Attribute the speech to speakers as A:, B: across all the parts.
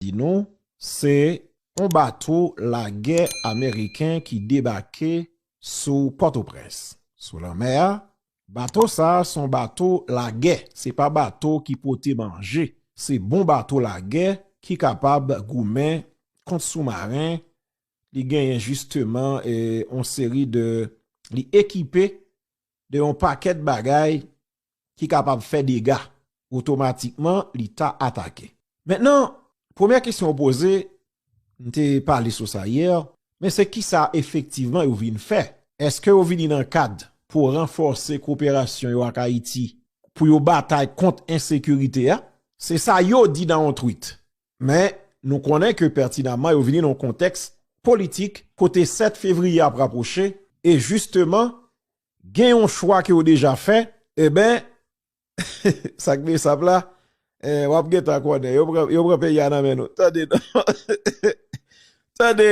A: di nou se yon bato lagè ameriken ki debake sou Pòtoprens, sou lanmè a. Bato sa a se yon bato lagè, se pa bato ki pote manje. Se bon bato lagè ki kapab goumen kont soumaren. Li genyen jisteman yon seri de, li ekipe de yon pakèt bagay ki kapab fè dega, otomatikman li ta atake. Mentnan, premyè kesyon ou poze, m te pale sou sa yè, men se kisa efektivman yo vin fè? Eske yo vini nan kad pou ranfòse koperasyon yo ak Ayiti pou yo batay kont ensekirite a? Se sa yo di nan yon tweet. Men, nou konnen ke pètinamman yo vini nan yon kontèks politik kote 7 fevriye ap rapwoche e jisteman Gen yon chwa ke w deja fè, eben, sak besap la, eh, wap gentan konnen, yo pran, yo pran peyi a nan men nou. Tande non, tande,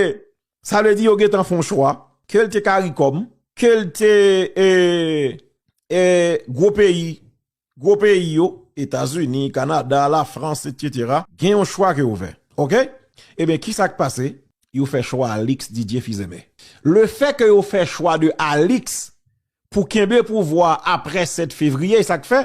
A: sa vle di yo gentan fon chwa, ke l te caricom, ke l te, eh, eh, gwo peyi, Gwo peyi yo, Etazini, Kanada, Lafrans, etc. Gen yon chwa ke yo fè. Ok? Ebyen kisa k pase? Yo fè chwa Alix Didier Fils-Aimé. Le fè ke yo fè chwa de Alix pou kenbe pouvwa a aprè 7 fevriye, e sa k fè?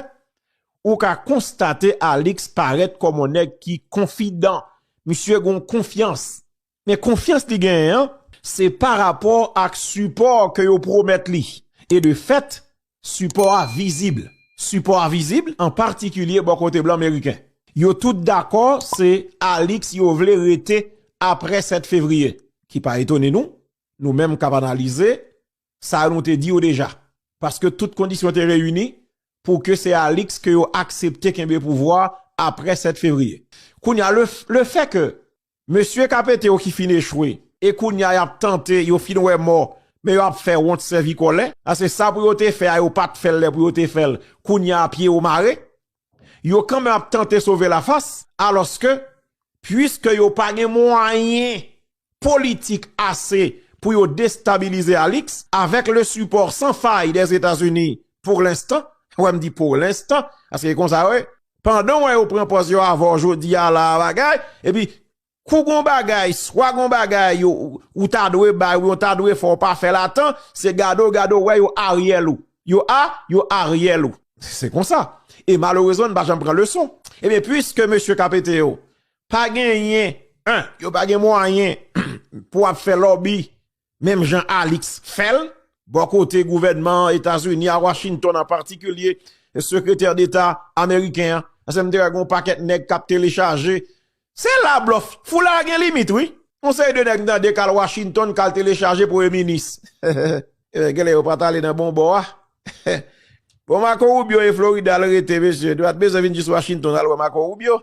A: Ou ka konstate Alix parèt kòm yon nèg ki konfidan. Misye gen yon konfyans. Men konfyans li genyen an, se pa rapò ak sipò ke yo pwomèt li. E de fèt, sipò a vizib. Sipò a vizib, an patikilye bò kote blan meriken. Yo tout dakò se Alix yo vle rete apre 7 fevriye. Ki pa etone nou, nou menm kap analize, sa nou te di yo deja. Paske tout kondisyon te reyini pou ke se Alix ke yo aksepte kenbe pouvwa apre 7 fevriye. Kounye a, le fè ke Mesye kapete yo ki fin echwe e kounya yap tante yo fin wè mò men yo ap fè wont sèvi kòlè paske sa pou yo te fè a yo pat fèl lè pou yo te fèl kounya pye yo mare yo kanmenm ap tante sove la fas alòske puiske yo pa gen mwayen politik ase pou yo destabilize Alix avèk le sipò san fay dè Etazini pour l'instant wè m di pour l'instant paske e konsa yo ye. Pandanw wè yo pran pòz yo avèw jodia la bagay epi kou gon bagay swa gon bagay ou ta dwe bay ou byen ta dwe fè ou pa fèl a tan se gade ou gade ou wè yo aryèl ou yo a yo aryèl ou se konsa e malerezman n pa janm pran leson ebyen pwiske mesye kap ete yo pa genyen 1 yo pa gen mwayen pou ap fè lòbi. menm jan Alix fè l, bò kote gouvènman Etazini a, Washington an patikilye, sekretè deta ameriken an, se m te wè gen yon pakèt nèg k ap telechaje, se la blòf, foulay a gen limit wi, yon seri de nèg m tande k al Washington k al telechaje premye minis, gen lè yo pa t ale nan bon bò a, bon Marco Rubio e Florida l rete mesye, nou pa t bezwen vin jis Washington al wè Marco Rubio.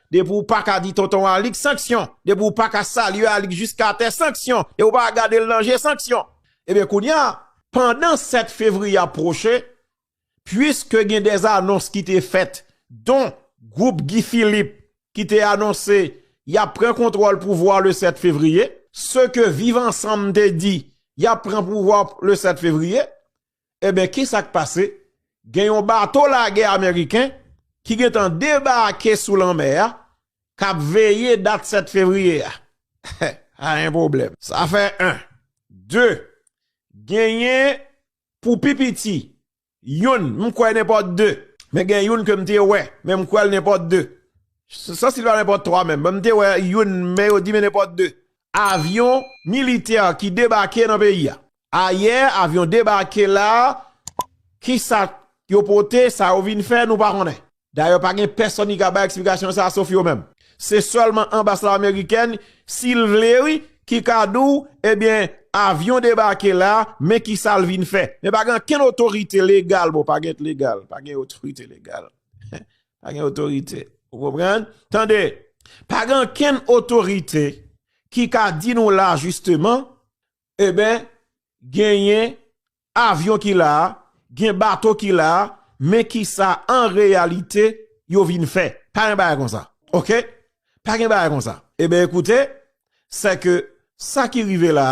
A: Depi w pa ka di tonton Alix, sanksyon! Depi w pa ka salye Alix jiska tè, sanksyon! Depi w pa ka gade l nan je, sanksyon! Ebyen kounye a, pandan 7 fevriye ap pwoche, puiske gen de anons ki te fèt, don gwoup Guy Philippe ki te anonse y ap pran kontwòl pouvwa le 7 fevriye, se ke Viv Ansanm te di y ap pran pouvwa le 7 fevriye, Eben kisak pase gen yon bato lagè ameriken ki gentan debake sou lanmè a kap veye dat 7 fevriye a pa gen pwoblèm. Sa fè 1, 2 genyen pou pi piti youn m kwè nenpòt 2. Men gen youn ke m te wè men m kwèl nenpòt 2. San si l pa nenpòt 3 menm men m te wè youn men yo di men nenpòt 2. Avyon militè ki debake nan peyi a. Ayè avyon debake la, kisa yo pote, sa yo vin fè, nou pa konnen. Dayè pa gen pèsòn ki ka bay eksplikasyon sa a sof yo menm. Se sèlman anbas la amerikèn, si l vle wi, ki ka di w, ebyen avyon debake la, men kisa l vin fè. Men pa gen ankenn otorite legal, bon pa gen t legal, pa gen otorite legal, pa gen otorite, ou konprann? Tande, pa gen ankenn otorite ki ka di nou la jisteman, Eben genyen avyon ki la, gen bato ki la, men ki sa an reyalite yo vin fè. Pa gen bagay konsa. Ok? Pa gen bagay konsa. Eben ekoute, se ke sa ki rive la,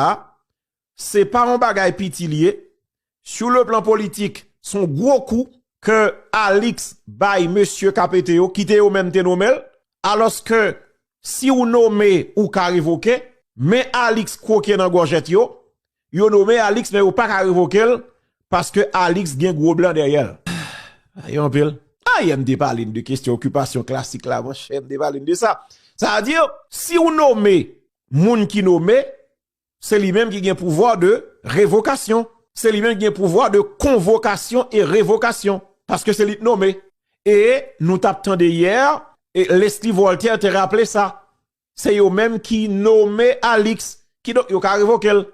A: se pa yon bagay piti li ye, Sou le plan politik, son gwo kou ke Alix bay mesye KPT yo, kite yo menm te nome l, alos ke si ou nome ou ka revoke, men Alix kwoke nan gòjèt yo, yo nome Alix men yo pa ka revoke l, paske Alix gen gwo blan dèyè l. Sa ye anpil. Ayè m te pale n de kestyon okipasyon klasik la monchè, m te pale n de sa. Sa vle di, si ou nome moun ki nome, Se li menm ki gen pouvwa de revokasyon. Se li menm ki gen pouvwa de konvokasyon e revokasyon. Paske se li k nome. E nou tap tande yè, Leslie Voltaire te raple sa. Se yo menm ki nome Alix. Kidonk yo ka revoke l.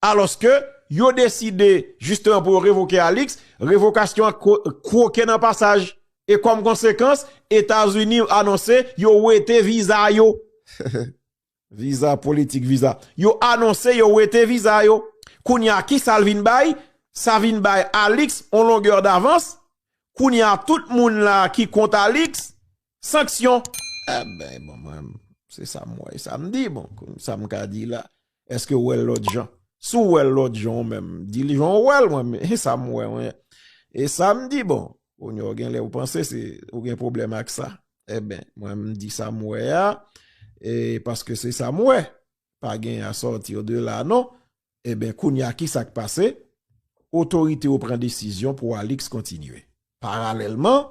A: Alòske yo deside jisteman pou yo revoke Alix, revokasyon an kwoke nan pasaj. E kòm konsekans, Etazini anonse yo wete viza yo. Viza politik viza yo anonse yo wete viza yo kounye a kisa l vin bay sa vin bay Alix on longè davans kounye a tout moun la ki kont Alix sanksyon. Ebyen bon mwen se sa m wè e sa m di bon sa m ka di la eske w wè l lòt jan si w wè l lòt jan ou menm di l jan w wè l mwen menm e sa m wè e sa m di bon kounye a w gen lè w panse se ou gen pwoblèm ak sa. E ben, mwen m di sa m wè a, e paske se sa m wè, pa gen a sòti o de la non, e ben kounye a ki sa k pase, otorite yo pran desizyon pou Alix kontinye. Paralèlman,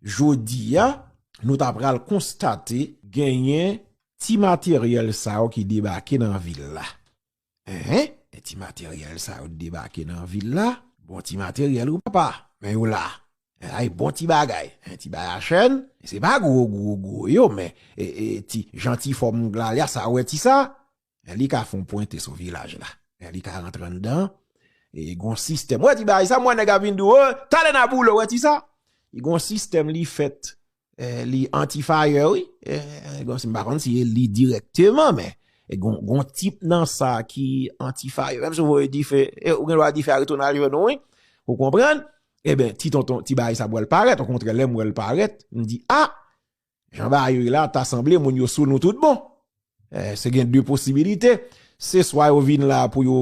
A: jodi a, nou ta pral konstate genyen ti materyèl sa yo ki debake nan vil la. Ehe, e ti materyèl sa yo t debake nan vil la, bon ti materyèl wi papa, men yo la, ay bon ti bagay, e ti bayachèn, se pa gwo gwo gwo yo men e ti jan ti fòm Glalya sa wè ti sa, e li ka fon pwente sou vilaj la, e li ka rantre anndan, e gon sistèm, wè ti bagay sa m wè nèg ap vin di w, talè n a boule w wè ti sa, gon sistèm li fèt Eh, li anti-fire wi. Eh, gon si m pa konn si e li direkteman, men, e gon, gon tip nan sa ki anti-fire. Menm sou voye dife, e ou gen lwa dife a retounen al jwenn nou wi. Ou konprann? E ben, ti tonton, ti bagay sa pral parèt. Ou kontre lè m wè l parèt, m di, ah! Jan bagay yo ye la, ta sanble moun yo sou nou tout bon. Se gen 2 posibilite, se swa yo vin la pou yo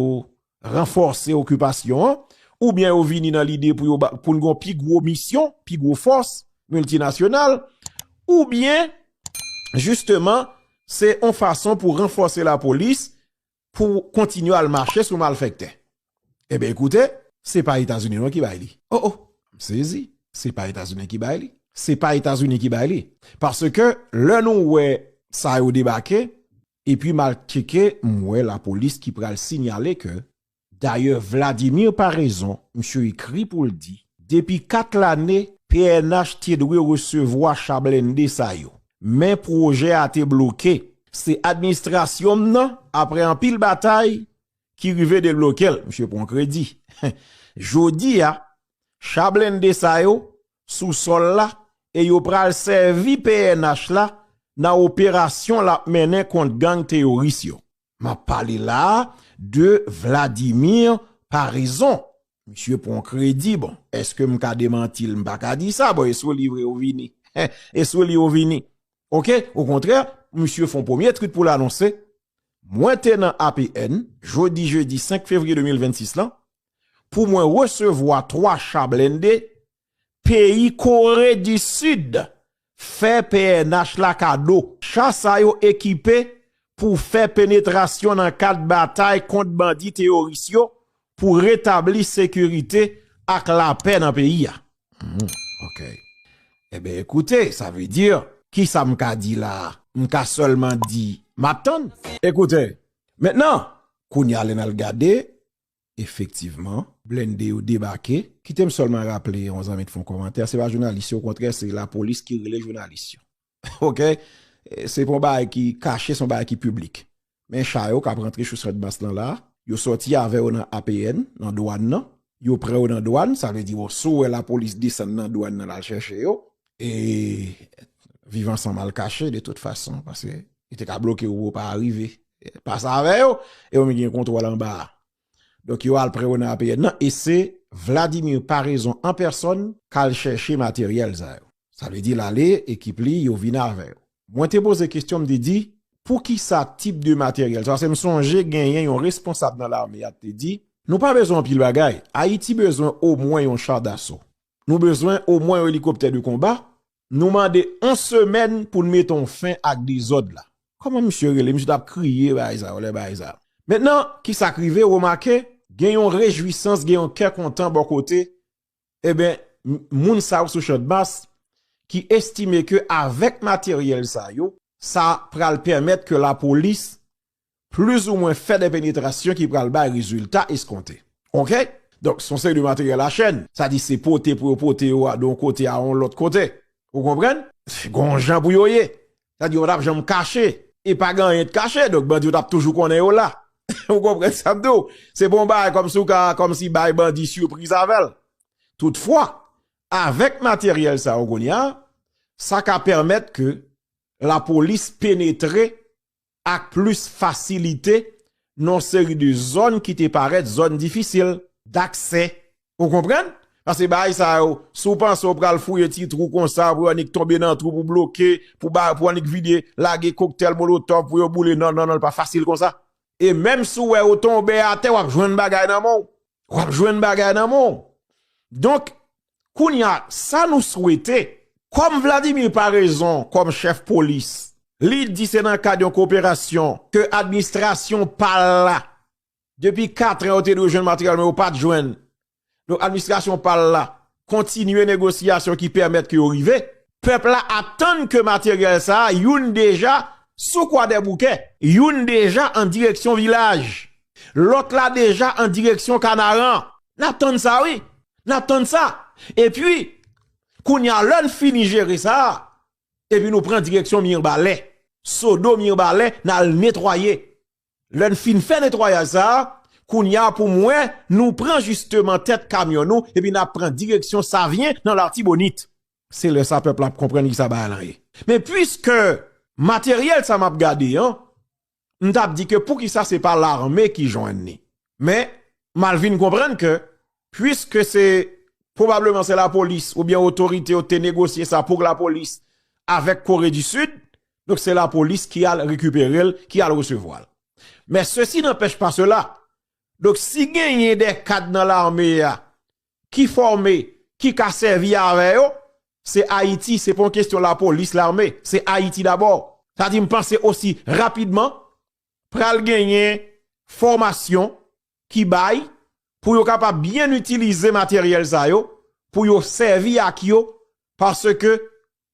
A: ranfòse okipasyon an, oubyen yo vini nan lide pou yo pou n gon pi gwo misyon, pi gwo fòs miltinasyonal, oubyen, jisteman, se yon fason pou ranfòse lapolis, pou kontinye al mache sou malfèktè. Enben ekoute. Se pa Etazini non ki bay li. O o! M sezi. Se pa Etazini ki bay li. Se pa Etazini ki bay li. Paske lè nou wè sa yo debake, epi m al tcheke, m wè lapolis ki pral sinyale ke. Dayè Vladimir Paraison, misye ekri pou l di, depi 4 lane, pnh te dwe resevwa cha blende sa yo. Men pwojè a te bloke. Se administrasyon m nan, apre anpil batay, ki rive debloke l, misye pran kredi. Jodi a, cha blende sa yo sou sòl la e yo pral sèvi pnh la nan operasyon l ap mennen kont gang teyoris yo. M ap pale la a de Vladimir Paraison. Misye pran kredi, bon, eske m ka demanti l? M pa ka di sa, bon, e sou li vre ou vini. E sou li ou vini. Ok, o kontrè, misye fon premye twit pou l anonse, mwen te nan APN, jodi jedi 5 fevriye 2026 lan, pou mwen resevwa 3 cha blende Peyi Kore di Sid fè pnh la kado. Cha sa yo ekipe pou fè penetrasyon nan kad batay kont bandi teyoris yo pou retabli sekirite ak lapè nan peyi a. Ok. Enben ekoute, sa vle di, kisa m ka di la a? M ka sèlman di, m ap tann. Ekoute, mentnan, kounye a lè n al gade, efektivman. Blende yo debake. Kite m sèlman raple yon zanmi t fon kòmantè se pa jounalis yo okontrè se lapolis ki rele jounalis yo ok se pon bagay ki kache son bagay ki piblik men cha yo kap rantre sou sètbans lan la yo sòti avè yo nan APN nan dwàn nan yo pran yo nan dwàn sa vle di bon sou wè lapolis desann nan dwàn nan lal chèche yo E viv ansanm al kache de tout fason, paske yo te ka bloke ou ou pa arive. Pas avè yo, e ou menm ki gen kontwòl anba a. Donk yo al pre ou nan APN nan, e se Vladimir Paraison an pèsòn k al chèche materyèl sa yo. Sa vle di l ale, ekip li, yo vin avè yo. Mwen te poze kesyon, m te di, pou ki sa tip de materyèl sa? Paske m sonje genyen yon responsab nan lame a k te di, nou pa bezwen anpil bagay, Ayiti bezwen omwen yon cha daso. Nou bezwen omwen yon elikoptè de konba, nou mande yon semèn pou n mete yon fen ak dezòd la. Kòman misye rele? Misye t ap kriye bagay sa yo lè bagay sa. Mentnan, ki sa k rive? Remake, gen yon rejwisans, gen yon kè kontan bò kote, eben, moun sa yo sou Chandmas ki estime ke avèk materyèl sa yo, sa pral pèmèt ke lapolis plis ou mwen fè de penetrasyon ki pral bay rezilta eskonte. Ok. Donk, se yon seri de materyèl a chèn. Sa di se pote pou yo pote yo a de yon kote a yon lòt kote. Ou konprann? Gon yon jan pou yo ye. Sa di yo pa t ap janm kache. E pa gen anyen te kache. Donk, bandi yo t ap toujou konnen yo la. Ou konprann sa m di w? Se pa yon bagay kòm si ou ka kòmsi bay bandi sipriz avè l. Toutfwa, avèk materyèl sa yo kounye a, sa ka pèmèt ke lapolis penetre ak plis fasilite nan yon seri de zòn ki te parèt zòn difisil daksè. Ou konprann? Paske bagay sa yo, si w panse w pral fouye ti twou konsa pou yon annik tonbe nan twou pou bloke, pou yon annik vide, lage koktèl molotòf pou yo boule, non, non, non, li pa fasil konsa. E menm si w wè yo tonbe atè, w ap jwenn bagay nan men w. W ap jwenn bagay nan men w. Donk, Kounya sa nou swete, kòm Vladimir Paraison kòm chèf polis, li di se nan kad yon koperasyon ke administrasyon pa l la, depi katran yo te dwe jwenn materyèl men yo pa t jwenn, donk administrasyon pa l la kontinye negosyasyon ki pèmèt ke yo rive, pèp la atann ke materyèl sa a, youn deja sou Kwadèboukè, youn deja an direksyon Vilaj, lòt la deja an direksyon Kanaran. N ap tann sa wi, Nap tann sa. E pi, kounye a lè n fini jere sa, e pi nou pran direksyon Mirbalè. Sodo Mirbalè n al netwaye. Lè n fin fè netwayaj sa, kounye a pou mwen nou pran jisteman tèt kamyon nou e pi nap pran direksyon Savyen nan Latibonit. Se lè sa pèp la ap konprann ki sa bagay lan ye. Men pwiske materyèl sa map gade an, m tap di ke poukisa se pa larme ki jwenn ni. Men, m al vin konprann ke puiske se pwobableman se lapolis oubyen otorite yo te negosye sa pou lapolis avèk Kore di Sid, donk se lapolis ki al rekipere l, ki al resevwa l. Men sesi nanpèch pa sela, donk si genyen de kad nan larme a ki fòme ki ka sèvi avè yo se Ayiti se pa yon kestyon lapolis lame se Ayiti dabò sa di m panse osi rapidman pral genyen fòmasyon ki bay pou yo kapab byen itilize materyèl sa yo pou yo sèvi ak yo paske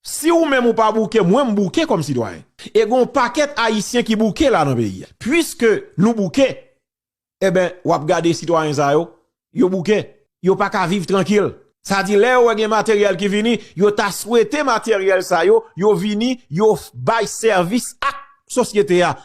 A: si ou menm ou pa bouke mwen m bouke kòm sitwayen e gon pakèt ayisyen ki bouke la nan peyi a piske nou bouke Eben, w ap gade sitwayen sa yo, yo bouke, yo pa ka viv trankil. Sa di lè yo wè gen materyèl ki vini, yo ta swete materyèl sa yo, yo vini, yo bay sèvis ak sosyete a.